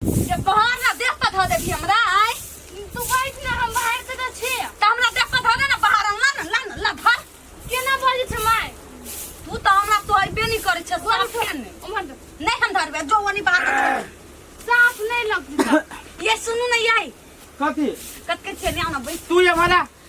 जे बाहर ना देख पर धऽ देबही हमरा आय तू बैठ ना हम बाहर से तऽ छी तऽ हमरा देख पर धऽ दे ना बाहर ला ना ला ना ला धर केना बजै छै माय तू तऽ हमरा तो अइबे नहि करै छै साफ के नहि उमर दे। नहि हम धरबे जो ओनी बाहर रख छोड़। साफ नहि लगतै ये सुनू ने याई कथी कत के छेने आना बैठ तू ये वाला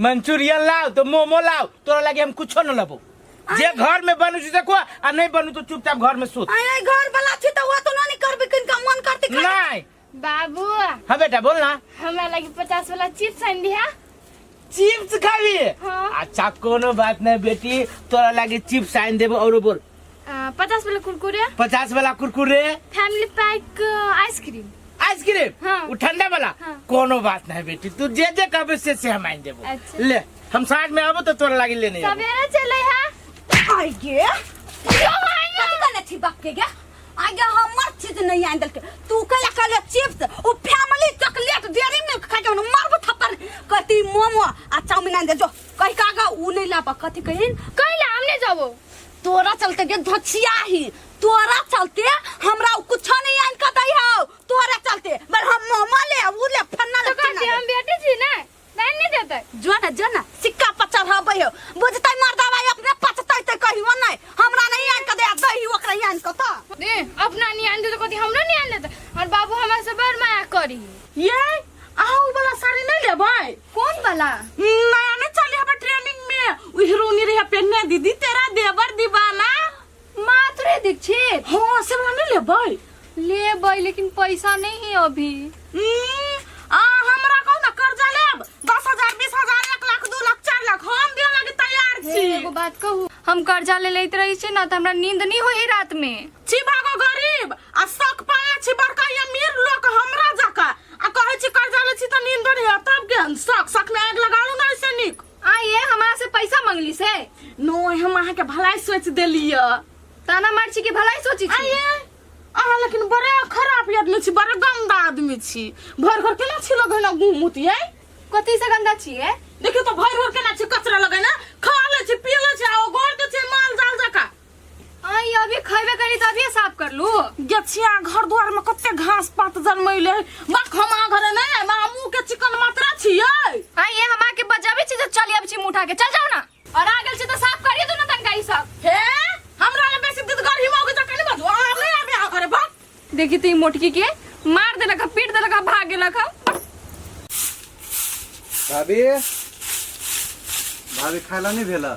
मंचूरियन लाओ तो मोमो लाओ तोरा लगे हम कुछो न लबो जे घर में बनू से देखो आ नहीं बनू तो चुपचाप घर में सुत आय आय घर वाला छी त वो तो ना नहीं करबे किनका मन करते खा नहीं बाबू हाँ बेटा बोल ना हमरा लगी पचास वाला चिप्स आनि दिहा चिप्स खाबी हाँ। अच्छा कोनो बात नहीं बेटी तोरा लगे चिप्स आन देबो और बोल पचास वाला कुरकुरे पचास वाला Kurkure family pack ice cream ice cream हाँ। वो ठंडा वाला हाँ। कोनो बात नहीं बेटी तू जे जे कहबे से से हम आइन देबो अच्छा। ले हम साथ में आबो तो तोरा लागी लेने आबो। सवेरे चले है आई गे कथी कहले छी बाप के गे आई गे हमर चीज नहीं आन देलके तू कहले कहले चिप्स ओ फैमिली चॉकलेट डेरी मिल्क खा के मारबो थप्पड़ कथी मोमो आ चाउमीन आन दे जो कही का का ऊ नहीं लापा कथी कहिन कहीं ला हमने जाबो तोरा चलते गे धछिया ही तोरा चलते हमरा कुछ नहीं आन का दई हो तोरा चलते मर हम मोमा ले ऊ ले फन्ना ले तो कहते हम बेटी छी ना नहीं नहीं देते जो ना जो ना सिक्का पचर हबै हो बुझतै मर्दा भाई अपने पचतै त कहियो नै हमरा नहीं आन का दे दही ओकरा आन का त दे अपना नहीं आन देते कहते हमरा नहीं आन देते और बाबू हमरा से बड़ माया करी ये आऊ वाला साड़ी नहीं लेबै कौन वाला नया में चले हबे ट्रेनिंग में उ हीरोनी रहे पेन्ने दीदी तेरा देवर दीवाना माधुरी दीक्षित हां से वाला नहीं लेबै ले भाई लेकिन पैसा नहीं है अभी हम्म, आ हमरा कहू ना कर्जा लेब दस हजार बीस हजार एक लाख दू लाख चार लाख हम दियो लगे तैयार हे, छी एगो बात कहू हम कर्जा ले लेते रही छी ना तो हमरा नींद नहीं होई रात में छी भागो गरीब आ शौक पाले छी बड़का या मीर लोग हमरा जका आ कहे छी कर्जा ले छी त नींद बड़ी है तब के हम शौक शौक में आग लगालू ना ऐसे निक आ ये हमारा से पैसा मंगली से नो हम अहाँ के भलाई सोच देलिए ताना मार छी कि भलाई सोची छी आये अहाँ लेकिन बड़े खराब आदमी छी बड़े गंदा आदमी छी भर घर केना छी लगे ना गुम मुतिये कथी से गंदा छी ए देखियो तो भर घर केना छी कचरा लगे ना खा ले छी पी ले छी आ गोड़ दे छी माल जाल जका आई अभी खैबे करी तभी साफ कर लू गेछिया घर द्वार में कते घास पात जनमैले बाक हम आ घरे नहीं आए मामू के चिकन मात्रा छियै आई ये हमा के बजाबे छी तो चली अब छी मुठा के चल जाओ ना और आ गेल छी तो साफ करिए दू ना तनका ई सब हे हमरा ले बेसी दिद गरही मौके त कनी बजू आ नहीं आबे आ घरे बाक देखी ती मोटकी के मार देलक ह, पीट देलक ह, भाग गेलक ह। भाभी भाभी खाइला नहीं भेला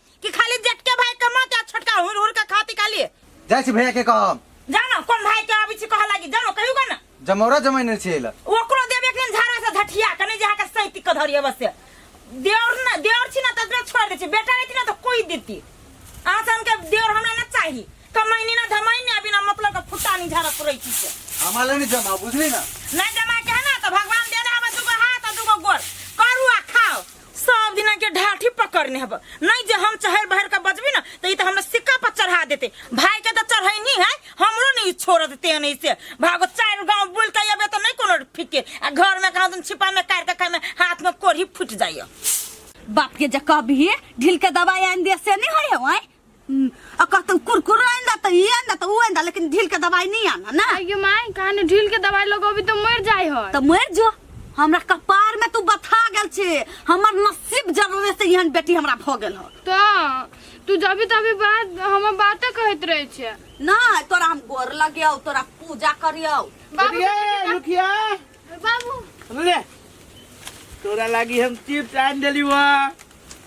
कि खाली जेटके भाई कमाते आ छोटका हुर हुर के खाती काली जाइ छी भैया के कहब जाना कोन भाई के आबी छी कह लागी जानो कहियो का ना जमौरा जमाइन रहै छै एहि लए ओकरो देब एक दिन झाड़ा से धठिया कने जे के सैती के धरिए बस से देवर ना देवर छी ना तकरे छोड़ दे छी बेटा रहती ना तो कोई देती आज हम के देवर हमरा ना चाही कमाइनी ना धमाइनी अभी ना मतलब के फुटा नहीं झाड़ा पुरै छी से हमरा लए नहि जमा बुझली ना ना जमा के ना तो भगवान देने हमें दुगो हाथ और दुगो गोर करू आ खाओ सब दिना के ढाठी पकड़ने हब नहीं जे हम चहर बहर का बजबी ना तो ई तो हमरा सिक्का पर चढ़ा देते भाई के तो चढ़ाई नहीं है हमरो नहीं छोड़ देते नहीं से भागो चार गांव बुल के अबे तो नहीं कोनो फिके आ घर में कहाँ तुम छिपा में काट के खाए में हाथ में कोढ़ी फूट जाइयो बाप के जे कहबी ढील के दवाई आनि दिया से नहीं होय हवाय हम्म, आ कहतन कुरकुर आइन दा त ई आइन दा त ऊ आइन दा लेकिन ढील के दवाई नहीं आना ना आगे माई कहानी ढील के दवाई लोग अभी तो मर जाए है त मर जो हमरा कपार में तू बथा गेल छे हमर नसीब जरूरे से यहाँ बेटी हमरा भ गेल हो तो तू जभी तभी बात हम बातें कहत रहे छे ना तोरा हम गोर लगियो तोरा पूजा करियो बाबू लुकिया लुकिया बाबू ले तोरा लागी हम चिप्स आन देली हुआ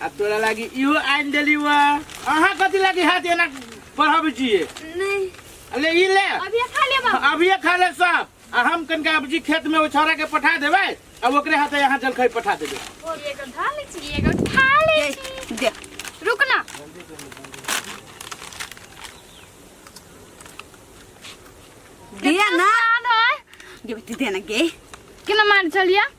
आ तोरा लागी इहो आइन देली हुआ अहाँ कथी लागी हाथ एना पढ़ब जिए नहीं अरे ई ले अभी ये खा ले बाबू अब ये खा ले सब आ हम कनका अबजी खेत में उछौरा के पठा देबै आ ओकरे हाथे यहाँ जलखै पठा देबै और ये को खा ले छी ये को खा ले छी दे रुक ना दे ना सान है दे बेटी दे ना गे केना मान चलिया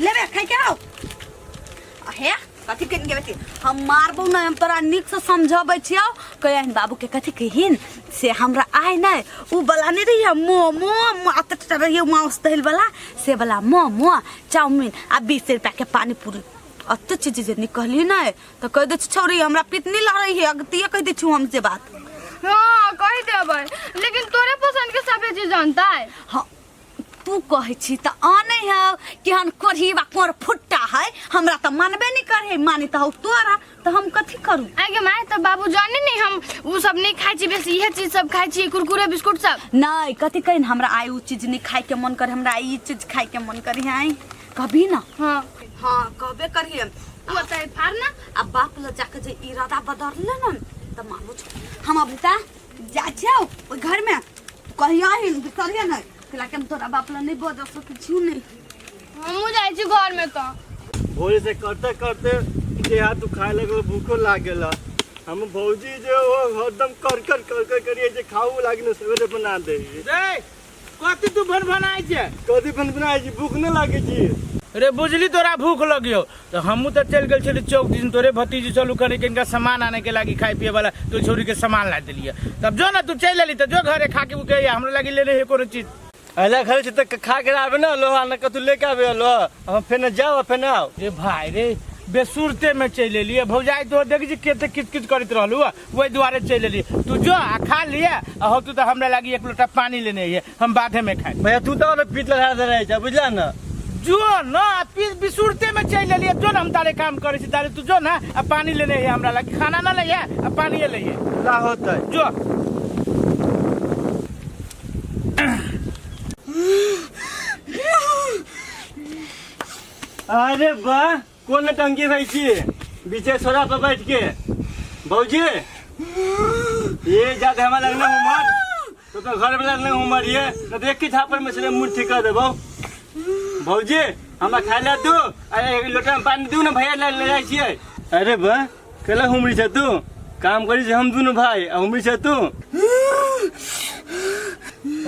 लेबे खाइ के हो आ हे कथी के गेबे छी हम मारबो ना हम तोरा नीक से समझबै छियो कहन बाबू के कथी कहिन से हमरा आय नै उ बला नै रहिए मोमो मात टटा रहिए माउस दहिल बला से बला मोमो चाउमीन आ 20 रुपया के पानी पूरी अते चीज जे निकली नै त कह दे छी, छौरी हमरा पितनी लड़ रही है अगतिए कह दे छु हम से बात हाँ कह देबै लेकिन तोरे पसंद के सभे चीज जानता है हाँ तू कहै छी तऽ आनै है केहन कोढ़ी बा कोर फुट्टा है हमरा तऽ मानबे नहीं करे है माने तऽ हौ तोरा तऽ हम कथी करू आगे माय तो बाबू जाने नहीं हम वो सब नहीं खाई छी बस यह चीज सब खाई छी कुरकुरे बिस्कुट सब नहीं कथी कहिन हमरा आइ उ चीज नहीं खाए के मन करे हमरा ई चीज खाए के मन करे है कभी ना हाँ हाँ कहबे करिए तू बताए फार ना आ बाप ल जाके जे इरादा बदलले न तऽ मालूम हम अभी ता जा छियौ ओहि घरमे कहिया ही बिसरिया नहि कैला कि हम तोरा बाप लए नहि बजऽ सकै छी नहि हमहूँ जाइ छी घरमे तऽ भोरे से करते करते देह हाथ दुखाए लगल भूखो लाग गेल हम भौजी जे ओ हरदम कर कर कर कर करिए जे खाऊ लागिन सवेरे बना दे रे कथी तू भनभनाइ छै कथी भनभनाइ छी भूख नहि लागै छी रे बुझली तोरा भूख लगियो तो हमू तो चल गए छली चौक दिन तोरे भतीजी चलू कने के इनका सामान आने के लागी खाए पिए वाला तो छोरी के सामान ला दिलिए तब जो ना तू चल अली तो जो घरे खा के उके हमरा लागी लेने है कोनो चीज अला घर से खा के आवे ना लो ना कतु लेके आवे लो हम फेन जाओ फेन आओ रे भाई रे बेसुरते में चल अलिए भौजाई तो देख जी केते किच किच करत रहलू वही दुआरे चल अलिए तू जो आ खा लिए आ हो तू तो हमरा लागी एक लोटा पानी लेने है हम बाधे में खाए भैया तू तो हमें पीट लगा दे रहे बुझला ना जो न आ पी- बिसुरते में चल अलिए जो न हम तारे काम करे छी तारे तू जो ना आ पानी लेने है हमरा लागी खाना ना ले आ पानी ले ला होता जो अरे वाह कोन टंकी रहै छी बीचे छोरा पर बैठ के भौजी ये जाते हमरा लग ना उमर तो तो घर वाला ना उमर ये तो देख के झापर में से मुंह ठीक कर देबो भौजी हमरा खाए ला दू अरे एक लोटा में पानी दू ना भैया ले ले जाइ छियै अरे बा कला हुमरी छ तू काम करी छै हम दुनु भाई आ हुमरी छ तू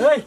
ओए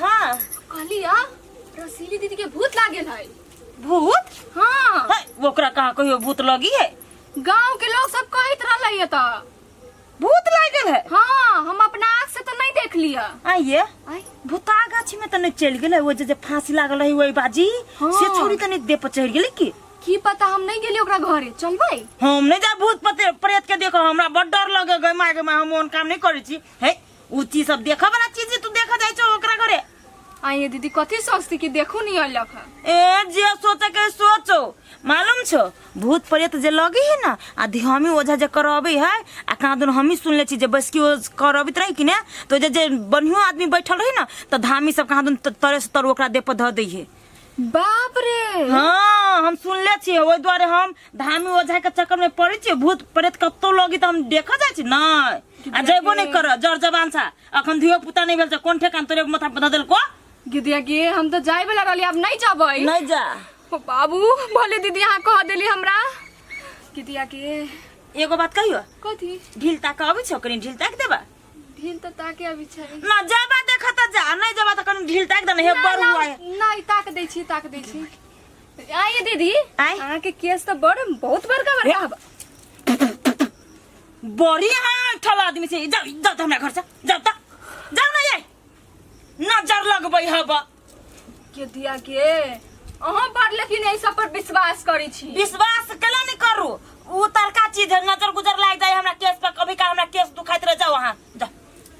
हाँ कहली आ रसीली दीदी के भूत लागल है भूत हाँ है, ओकरा कहाँ कहियो भूत लगी है गांव के लोग सब कहत रहले त भूत लागल है हाँ हम अपना आँख से तो नहीं देख लिया आइए आई भूता गाछी में तने चल गेले वो जे जे फांसी लागल रही वही बाजी हाँ। से छोड़ी तने दे पर चढ़ गेले की की पता हम नहीं गेली ओकरा घरे चलबै हम नहीं जा भूत पते प्रेत के देखो हमरा बड़ डर लगे गए माय गए माय हम ओन काम नहीं करी छी हे उ चीज सब देखा वाला चीज तू देखा जाय छो ओकरा घरे आइए दीदी कथी सोचती कि देखू नहीं अलग है ए जे सोचे के सोचो मालूम छो भूत प्रेत जे लगी है ना आ धियामी ओझा जे करबे है आ कहाँ दिन हमी सुन ले छी जे बस की ओ करबित रही कि ने तो जे जे बढ़ियो आदमी बैठल रही ना तो धामी सब कहाँ दिन त- तरे से तर ओकरा देह पर धऽ दै है बाप रे हाँ हम सुनले छियै ओहि दुआरे हम धामी ओझा के चक्कर में पड़े छियै भूत प्रेत कतौ लगी तऽ हम देखऽ जाइ छी नहि आ जयबो नहि करऽ जर जबान सा अखन धियो पुता नहि भेल छै कोन ठेकान तोरे माथा पर धऽ देलको गिदिया गे हम तो जाए वाला रहली अब नहीं जाबै नहि जा ओ बाबू भले दीदी अहाँ कह देली हमरा गिदिया गे एगो बात कहियो कथी ढील ताक अबै छौ कनी ढील ताक देबा ढील तो ताके अभी छै ना जाबा देखा त जा नहीं जाबा त कनी ढील ताक दने हे बड़ हुआ है नहीं ताक दै छी ताक दै छी आइए दीदी आय अहाँ के केस तो बड़ बहुत बड़का बड़का हवा बड़ी है ठल आदमी से जाओ जाओ त हमरा घर से जाओ त जाओ ना ये नजर लगबै हब के दिया के अहाँ बड़ लेकिन एहि सब पर विश्वास करै छी विश्वास केला नहीं करू उ तलका चीज है नजर गुजर लाग जाए हमरा केस पर कभी का हमरा केस दुखाइत रह जाओ अहाँ जा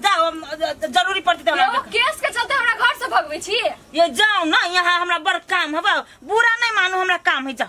जाओ हम, अ, अ, जरूरी पड़ती तो एगो हमरा केस के चलते हमरा घर से भगबै छी ये जाओ ना यहाँ हमरा बड़ काम है बा- बुरा नहीं मानो हमरा काम है जाओ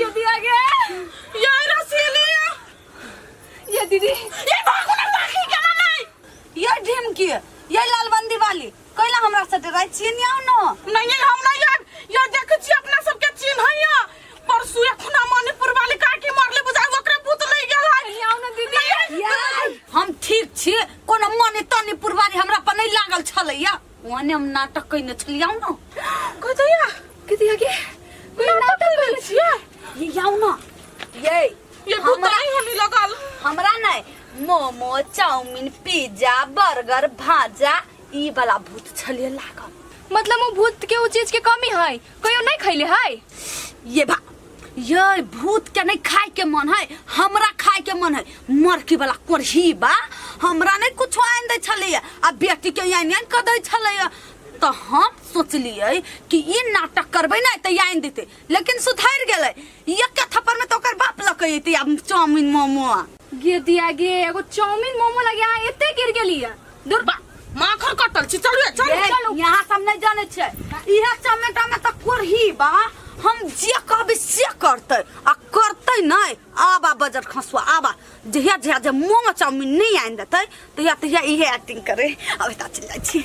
ये भी आ गया ये रसीली ये दीदी ये भागो ना भागी केना नहीं ये ढीम की ये लालबंदी वाली कोइला हमरा से डराई छिए नहीं आउ न नहीं नहीं हम नहीं यार ये देख छी अपना सब के चिन्ह है या परसु एखना मणिपुर वाली काकी मरले बुझा ओकरा भूत ले गेल है आउ न दीदी हम ठीक छी कोनो मने तनी पुरवारी हमरा पर नहीं लागल छलैया ओने हम नाटक कइने छलियौ न कतैया किति आगे कोई नाटक कइने छिया ये जाऊ न ये ये भूताई होनी लगल हमरा नै मोमो चाउमिन पिज्जा बर्गर भाजा ई वाला भूत छलिए लागल मतलब वो भूत के वो चीज के कमी है कहियो नहीं खैले है ये भा ये भूत के नहीं खाए के मन है हमरा खाए के मन है मरकी वाला कोढ़ी बा हमरा नहीं कुछ आन दे छले आ बेटी के यान यान कर दे छले तो हम सोचलिए कि ई नाटक करबे ना तो यान देते लेकिन सुधर गेले ये के थप्पड़ में तो ओकर बाप लकैते अब चाउमिन मोमो गिर दिया गे एगो चाउमीन मोमो लगे यहाँ एते गिर गेली है दूर बा माखर कटल छी चलू चल ये, चलू यहाँ सब नहीं जाने छे इहे चमेटा में तो कोरही बा हम जे कहबे से करते आ करते नहीं आबा बजट खसुआ आबा जहिया जहिया जे मोमो चाउमीन नहीं आनि देते तहिया तहिया इहे एक्टिंग करे अब एता चल जाइ छी